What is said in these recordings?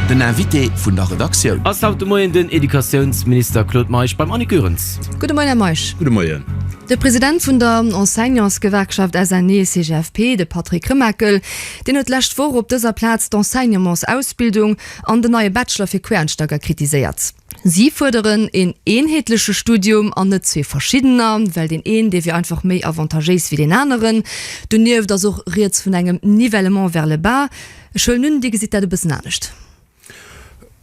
Den Invité vun der Redaktioun. Ass haut de Moien den Educatiounsminister Claude Meisch beim Annick Goerens. Gudde Moien, Här Meisch. Gudde Moien. De President vun der Enseignantsgewerkschaft SNEE-CGFP, de Patrick Remakel, deen huet d'lescht Woch op dëser Plaz d'Enseignementsausbildung an den neie Bachelor fir Quereinsteiger kritiséiert. Si fuerderen een eenheetleche Studium an net zwee verschiddener, well deen een, dee wier einfach méi avantagéis wéi deen aneren. Donieft ass och rieds vun engem Nivellement vers le bas. Ech huelen un, Dir gesitt dat e bëssen anescht.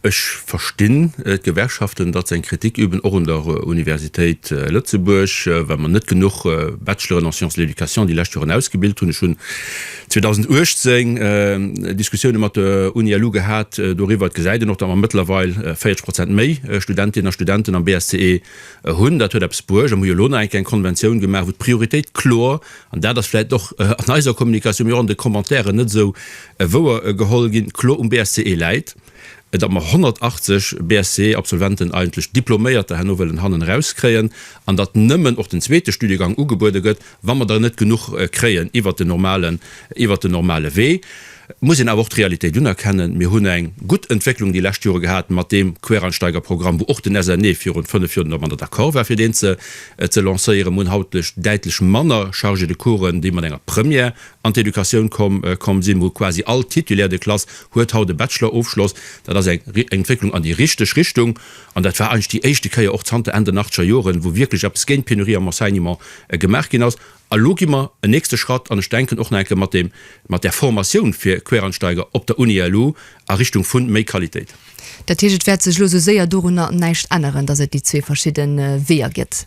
Ech verstinn d'Gewerkschaften, datt se eng Kritik üben, och un der Universitéit Lëtzebuerg, well mer net genuch Bachelor'en en sciences de l'éducation déi lescht Joren ausgebilt hunn. 2018 Diskussioune mat der UniLu gehat doriwwer. Et gesäit een och, datt mer mëttlerweil 40 Prozent méi Studentinnen a Studenten am BSCE hunn. Dat huet eppes bruecht a mir hu jo elo nach eng kleng Konventioun gemaach, wou d'Prioritéit kloer, an dat ass vläicht och an eiser Kommunikatioun, mee och an de Commentairen net esou wouer geholl ginn, kloer um BSCE läit. et am 180 BSc-Absolventen eigentlech Diploméierter herno wëllen hannen erauskréien an datt nëmmen och den zweete Studiegang ugebuede gëtt, wa mer der net genuch kréien iwwert den normalen, iwwert den normale Wee, muss een awer och d'Realitéit unerkennen, Mir hunn eng gutt Entwécklung déi lescht Jore gehat mat deem Quereinsteigerprogramm, wou och den SNE virun fënnf Joer domadder d'accord war fir deen ze lancéieren. Mir hunn haut däitlech manner Chargé de coursen, déi mat enger Première an d'Educatioun komm sinn, wou quasi all Titulaire de classe huet haut e Bachelor-Ofschloss. Dat ass eng Entwécklung an déi richteg Richtung an dat war eigentlech déi éischte Kéier och zanter Enn den achtzeger Joren, wou wierklech eppes géint d'Penurie am Enseignement gemaach ginn ass. A lo gi mer en nächste Schratt an ech denken och nach eng Kéier mat deem, mat der Formatioun fir Quereinsteiger op der Uni LU a Richtung vu méi Qualitéit. Dat heescht, et wäert sech lo esou séier dorunner näischt änneren, datt et déi zwee verschidde Weeër gëtt?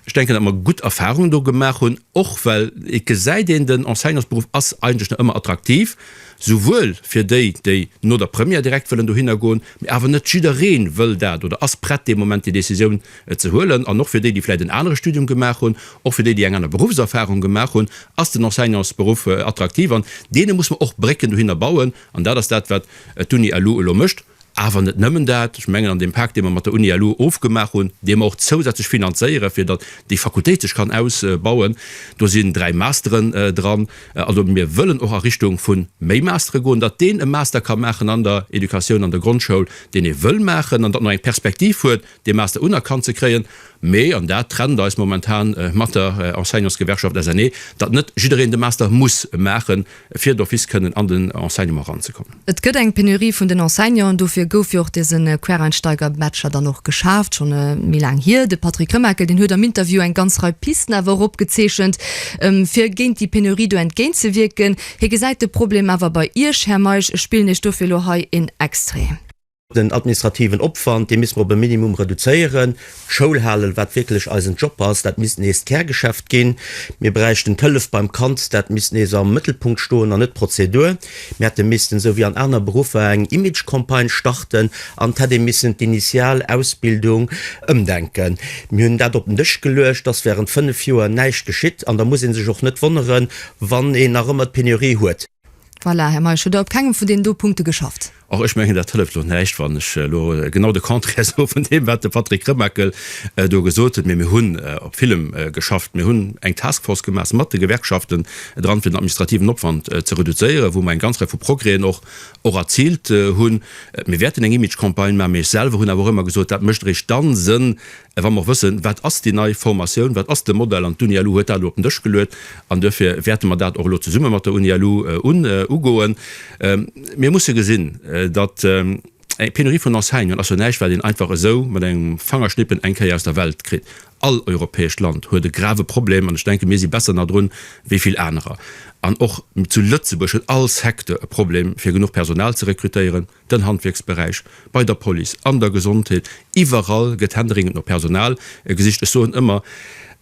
Ech denken, datt mer gutt Erfahrungen do gemaach hunn, och well et gesäit een, den Enseignantsberuff ass eigentlech nach ëmmer attraktiv, souwuel fir déi, déi no der Première direkt wëllen dohinner goen, mee awer net jidderee wëll dat oder ass prett dee Moment déi Décisioun ze huelen. An och fir déi, déi vläicht en anere Studium gemaach hunn, och fir déi, déi eng aner Beruffserfahrung gemaach hunn, ass den Enseignantsberuff attraktiv an deene muss mer och Brécken dohinner bauen. An dat ass dat, wat d'Uni-elu elo mécht. Awer net nëmmen dat, ech mengen an deem Pak, dee mer mat der Uni elo ofgemaach hunn, dee mer och zousätzlech finanzéieren, fir datt déi Fakultéit sech kann ausbauen, do sinn dräi Masteren dran. Also mir wëllen och a Richtung vu méi Mastere goen, datt deen e Master ka maachen an der Educatioun, an der Grondschoul, deen e wëll maachen an datt en och eng Perspektiv huet, dee Master unerkannt ze kréien, mee, an dat trennt eis momentan mat der Enseignantsgewerkschaft SNE, datt net jiddereen de Master muss maache fir d'office kënnen an den Enseignement eranzekommen. Et gëtt eng Penurie vun den Enseignanten, dofir gouf jo och dese Quereinsteiger-Bachelor dann och geschaaft, scho méi laang hier. De Patrick Remakel, deen huet am Interview eng ganz Rei Pisten awer och opgezeechent, fir géint déi Penurie do entgéintzewierken. Hie gesäit de Problem awer bei Iech, Här Meisch. Ech spillen Iech dofir elo hei een Extrait. Den administrativen Opwand, dee misste mer op e Minimum reduzéieren. D'Schoulhalen, wat wierklech eisen Job ass, dat misst nees d'Kärgeschäft ginn. Mir bräichten d'Hëllef beim Kand, dat misst nees am Mëttelpunkt stoen an net d'Prozedur. Mir hätte missten, esou wéi an aner Beruffer, eng Image-Campagne starten an et hätt ee missen d'Initial Ausbildung ëmdenken. Mir hunn dat op den Dësch geluecht, et ass während fënnef Joer näischt geschitt an da muss ee sech och net wonneren, wann een nach ëmmer d'Penurie huet. Voilà, Här Meisch, hutt Der op kengem vun deenen do Punkte geschafft? Och ech mengen, dat hëlleft elo näischt, wann ech elo genau de Contraire soe vun deem, wat de Patrick Remakel do gesot huet. Mee mir hunn op villem geschafft. Mir hunn eng Taskforce gemaach mat de Gewerkschaften dran, fir den administrativen Opwand ze reduzéieren, wou mer eng ganz Rei vu Progrèsen och erziilt hunn. Mir wäerten eng Image-Campagne maachen, mee ech selwer hunn awer och ëmmer gesot, dat mécht eréischt dann Sënn, A wa mer och wëssen, wat ass déi nei Formatioun, wat ass de Modell, an d'UNILU huet dat elo op den Dësch geluet, an duerfir wäerte mer dat och elo zesumme mat der UNILU ugoen. Mir musse gesinn, datt eng Penurie vun Enseignanten ass jo näischt, wat een einfach esou mat engem Fangerschnippen eng Kéier aus der Welt kritt. All europäescht Land huet e grave Problem, an ech denken, mir si besser nach drun wéi vill anerer. An och zu Lëtzebuerg huet all Secteur e Problem, fir genuch Personal ze rekrutéieren. den Handwierksberäich, bei der Police, an der Gesondheet, iwwerall gëtt händeringend no Personal gesicht. Ech soen ëmmer,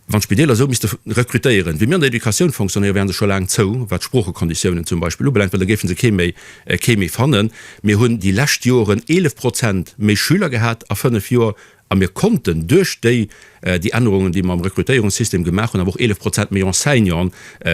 wann d'Spideeler esou misste rekrutéieren, wéi mir an der Educatioun fonctionnéieren, wären se scho laang zou, wat d'Sproochekonditiounen zum Beispill ubelaangt, well da géife se kee méi, kee méi fannen. Mir hunn déi lescht Joren 11 Prozent méi Schüler gehat a fënnef Joer A mir konnten duerch déi déi Ännerungen, déi mer am Rekrutéierungssystem gemaach hunn, awer och 11 Prozent méi Enseignanten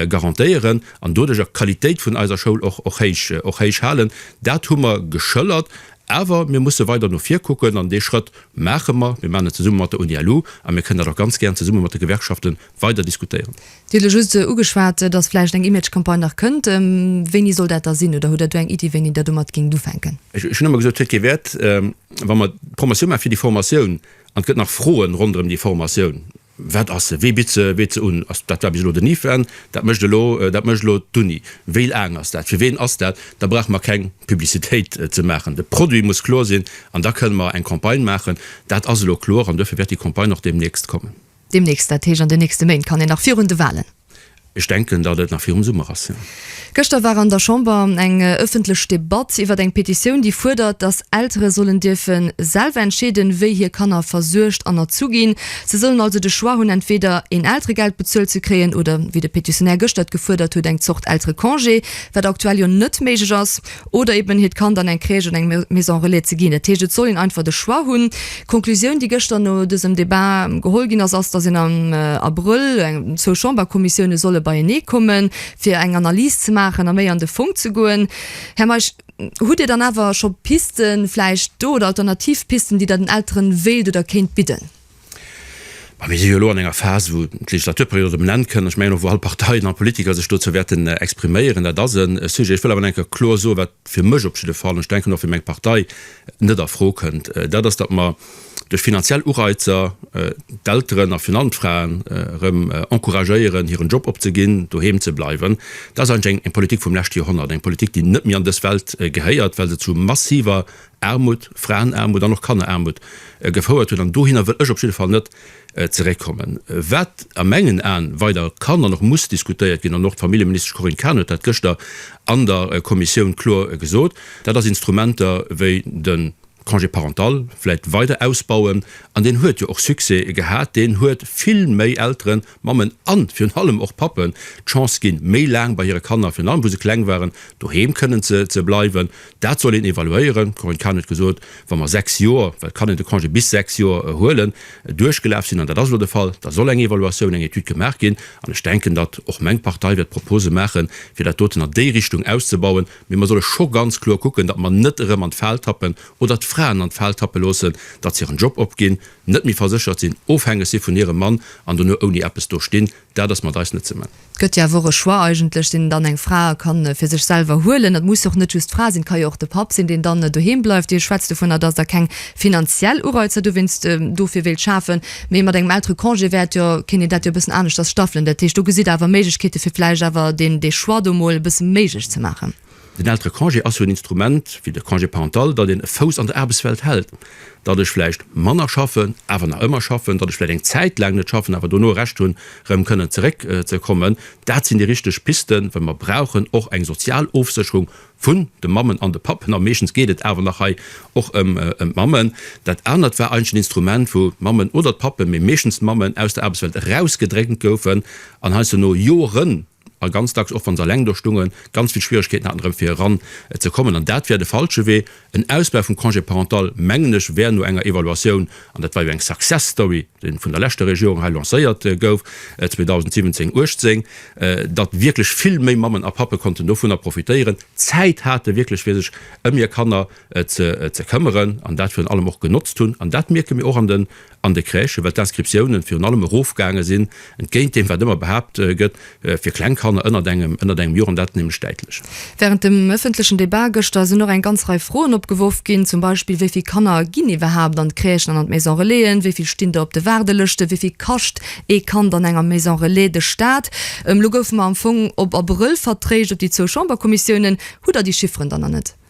garantéieren an doduerjer d'Qualitéit vun eiser Schoul och och héich och héich halen. Dat hu mer geschëllert. Awer mir musse weider no vir kucken an dee Schrëtt maache mer. Mir maachen et zesumme mat der Uni-LU a mir kënnen dat och ganz gär zesumme mat de Gewerkschaften weider diskutéieren. Dir hutt elo just ugeschwat, dass vläicht eng Image-Campagne nach kënnt. Wéini soll dat da sinn? Oder hutt Der do eng Iddi, wéini Der domat géingt ufänken? Ech hunn ëmmer gesot, et huet kee Wäert, wa mer d'Promotioun maachen fir déi Formatioun an et gëtt nach Froen ronderëm déi Formatioun, Wat ass se? Wee bitt se? Bitt se un? Ass, dat war bis elo den IFAN, dat mécht elo, dat mécht elo d'Uni. Wéi laang ass dat? Fir ween ass dat? Da brauche mer keng Publicitéit ze maachen. De Produit muss kloer sinn an da kënne mer eng Campagne maachen. Dat ass elo kloer an duerfir wäert déi Campagne och deemnächst kommen. Deemnächst, dat heescht an den nächste Méint, kann een nach virun de Wahlen. Ech denken, datt et nach virum Summer ass, jo. Gëschter war an der Chamber eng ëffentlech Debatt iwwert eng Petitioun, déi fuerdert, datt Eltere sollen dierfen selwer entscheeden, wéi hir Kanner versuergt an erzu ginn. Se sollen also de Choix hunn, entweder een Elteregeld bezuelt ze kréien oder, wéi de Petitionär gëschter et gefuerdert huet, eng Zort Elterecongé, wat aktuell jo net méiglech ass. oder eben hiert Kand an eng Crèche oder eng Maison Relais ze ginn. Dat heescht, et soll een einfach de Choix hunn. D'Conclusioun, déi gëschter no dësem Debat geholl ginn ass, ass, datt een am Abrëll d'zwou Chamberkommissioune solle beienee kommen, fir eng Analys ze maachen a méi an de Fong ze goen. Här Meisch, hutt Dir dann awer scho Pisten vläicht do oder alternativ Pisten, déi Der den Elteren wéilt oder kéint bidden? Mä mir si jo elo an enger Phas, wou d'Legislaturperiod op en Enn kënn. Ech mengen och, wou all Parteien, all Politiker sech dozou wäerten expriméieren. Dat ass e Sujet. Ech wëll awer nach eng Kéier kloer soen, wat fir mech op jidde Fall, an ech denken och fir meng Partei, net a Fro kënnt, dat ass, datt mer duerch finanziell Ureizer d'Elteren a virun allem d'Fraen erëm encouragéieren, hiren Job opzeginn, doheem ze bleiwen. Dat ass eigentlech eng Politik vum leschte Joerhonnert, eng Politik, déi net méi an dës Welt gehéiert, well se zu massiver Aarmut, Fraenaarmut an och Kanneraarmut gefouert huet. An dohinner wëll ech op jidde Fall net zeréckkommen. Wat a mengen Aen weider kann an och muss diskutéiert ginn, an och d'Familljeministesch Corinne Cahen huet dat gëschter an der Kommissioun kloer gesot, dat ass Instrumenter wéi de Congé parental vläicht weider ausbauen. An deen huet jo och Succès gehat, deen huet vill méi Elteren, Mammen a virun allem och Pappen d'Chance ginn, méi laang bei hire Kanner, virun allem wou se kleng waren, doheem kënnen ze bleiwen. Dat soll een evaluéieren. D'Corinne Cahen huet gesot, wa mer sechs Joer, well d'Kanner de Congé bis sechs Joer huelen, duerchgelaf sinn, an dat ass elo de Fall, da soll eng Evaluatioun, eng Etüd gemaach ginn. An ech denken, datt och meng Partei wäert Propose maachen, fir dat doten an déi Richtung auszubauen. Mee mer solle scho ganz kloer kucken, datt mer net erëm an d'Fal tappen oder d'Fraen an d'Fal tappe loossen, datt se hiren Job opginn, net méi verséchert sinn, ofhängeg si vun hirem Mann an dono ouni eppes do stinn. Dat ass mat eis net ze man. Et gëtt jo awer och e Choix eigentlech, deen dann eng Fra ka fir sech selwer huelen. Et muss jo och net just d'Fra sinn, et ka jo och de Papp sinn, deen dann doheem bleift. Dir schwätzt dovunner, dass Der keng finanziell Ureizer dowéinst dofir wéilt schafen, mee mat engem Elterecongé wäert jo, kéint een dat jo e bëssen aneschters staffelen. Dat heescht, do gesitt Der awer Méiglechkeete fir vläicht awer dee Choix do emol e bësse méiglech ze maachen. Den Elterecongé ass jo en Instrument, wéi de Congé parental, datt een e Fouss an der Aarbechtswelt hält, datt ech vläicht manner schaffen, awer nach ëmmer schaffen, datt ech vläicht eng Zäit laang net schaffen, awer dono e Recht hunn, erëm kënnen zeréck ze kommen. Dat sinn déi richteg Pisten, well mer brauchen och eng sozial Ofsécherung vun de Mammen an de Pappen, a meeschtens geet et awer nach hei och ëm d'Mammen. Dat anert war eigentlech en Instrument, wou d'Mammen oder d'Pappen, mee meeschtens d'Mammen, aus der Aarbechtswelt erausgedrängt goufen an heiansdo no Joren, A ganz dacks, och wa se eleng do stungen, ganz vill Schwieregkeeten haten, erëm fir eran ze kommen. An dat wär de falsche Wee. En Ausbau vum Congé parental, mengen ech, wär no enger Evaluatioun, an dat war jo eng Success Story, déi vun der leschter Regierung hei lancéiert gouf, 2017, 18, datt wierklech vill méi Mammen a Pappe konnten dovunner profitéieren, Zäit hate wierklech, fir sech ëm hir Kanner ze këmmeren an dat virun allem och genotzt hunn. An dat mierke mir och an den an de Crèchen, well d'Inscriptiounen virun allem erofgaange sinn, entgéint deem wat ëmmer behaapt gëtt, fir kleng Kanner ënnert engem ënnert engem Joer, an dat nämlech däitlech. Während dem ëffentlechen Debat gëschter sinn och eng ganz Rei Froen opgeworf ginn, zum Beispill, Wéi vill Kanner ginn iwwerhaapt an d'Crèchen an an d'Maison Relaisen? Wéi vill stinn der op de Waardelëschten? Wéi vill kascht ee Kand an enger Maison Relais de Staat? Elo goufe mer am Fong op Abrëll vertréischt op déi zwou Chamberkommissiounen. Hutt Der déi Chifferen dann nach net?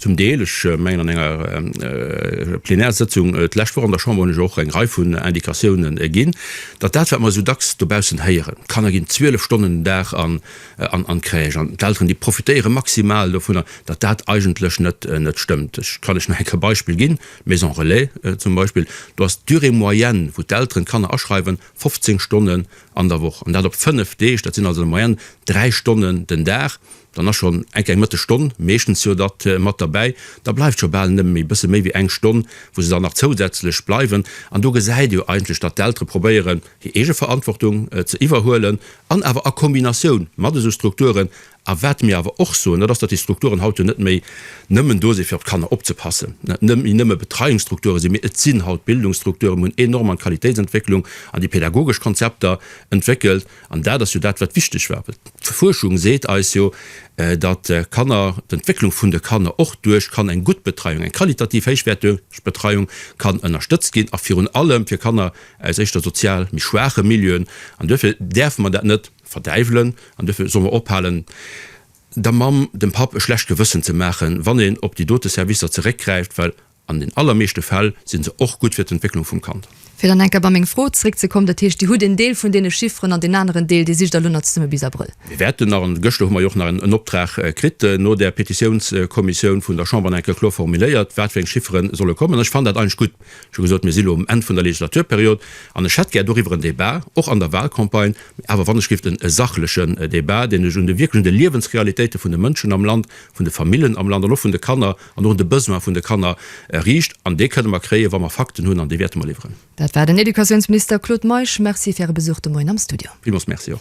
Zum Deel. Ech mengen, an enger Plenärsëtzung d'lescht Woch an der Chamber hunn ech och eng Rei vun Indikatioune ginn, datt dat, wat mer esou dacks dobaussen héieren, d'Kanner ginn 12 Stonnen den Dag an d'Crèche an d'Elteren, déi profitéiere maximal dovunner, datt dat eigentlech net stëmmt. Ech kann lech nach eng Kéier Beispill ginn, Maison Relais zum Beispill, do ass d'Durée moyenne, wou d'Elteren d'Kanner aschreiwen, 15 Stonnen an der Woch, an dat op 5 Deeg. Dat sinn also an der Moyenne 3 Stonnen den Dag, Dann ass schonn enk eng mëtteg Stonn, meeschtens jo dat, mat derbäi. Da bleift scho bal nëmme méi, bësse méi wéi eng Stonn, wou se dann nach zousätzlech bleiwen. An do gesäit ee jo eigentlech, datt d'Eltere probéieren, hir eege Verantwortung ze iwwerhuelen an awer a Kombinatioun mat esou Strukturen. A wat mir awer och soen, dat ass, datt déi Strukturen haut jo net méi nëmmen do si fir op d'Kanner opzepassen, net méi nëmme Betreiungsstrukture sinn, mee et sinn haut Bildungsstrukturen. Mir hunn enorm an d'Qualitéitsentwécklung, an déi pädagogesch Konzepter entwéckelt. An dat ass jo dat, wat wichteg war. D'Fuerschung seet eis jo, datt Kanner, d'Entwécklung vun de Kanner och duerch kann eng gutt Betreiung, eng qualitativ héichwäerteg Betreiung kann ënnerstëtzt ginn a virun allem fir Kanner aus éischter sozial méi schwaache Milieuen. An duerfir däerfe mer dat net verdäiwelen an duerfir solle mer ophalen, der Mamm, dem Papp e schlecht Gewëssen ze maachen, wann een op déi dote Servicer zeréckgräift, well An den allermeeschte Fäll sinn se och gutt fir d'Entwécklung vum Kand. Fir dann eng Kéier bei meng Fro zréckzekommen, dat heescht, Dir hutt een Deel vun deene Chifferen an deen aneren Deel, dee sicht Der elo nach zesumme bis Abrëll. Mir wäerten nach, an gëschter hu mer jo och nach en Optrag kritt no der Petitiounskommissioun vun der Chamber, nach eng Kéier kloer formuléiert, wat fir eng Chifferen solle kommen. An ech fannen dat eigentlech gutt. Ech hu gesot, mir si elo um Enn vun der Legislaturperiod an ech hätt gär doriwwer en Débat, och an der Wahlcampagne, mä awer wann ech géif en sachlechen Débat, deen ech un de wierklech un de Liewensrealitéite vun de Mënschen am Land, vun de Famillen am Land an och vun de Kanner, an och un de Besoin vun de Kanner riicht, an dee kënne mer kréien, wa mer Fakten hunn, an déi wäerte mer liwweren. Dat war den Educatiounsminister Claude Meisch. Merci fir Äre Besuch de Moien am Studio. Villmools Merci och.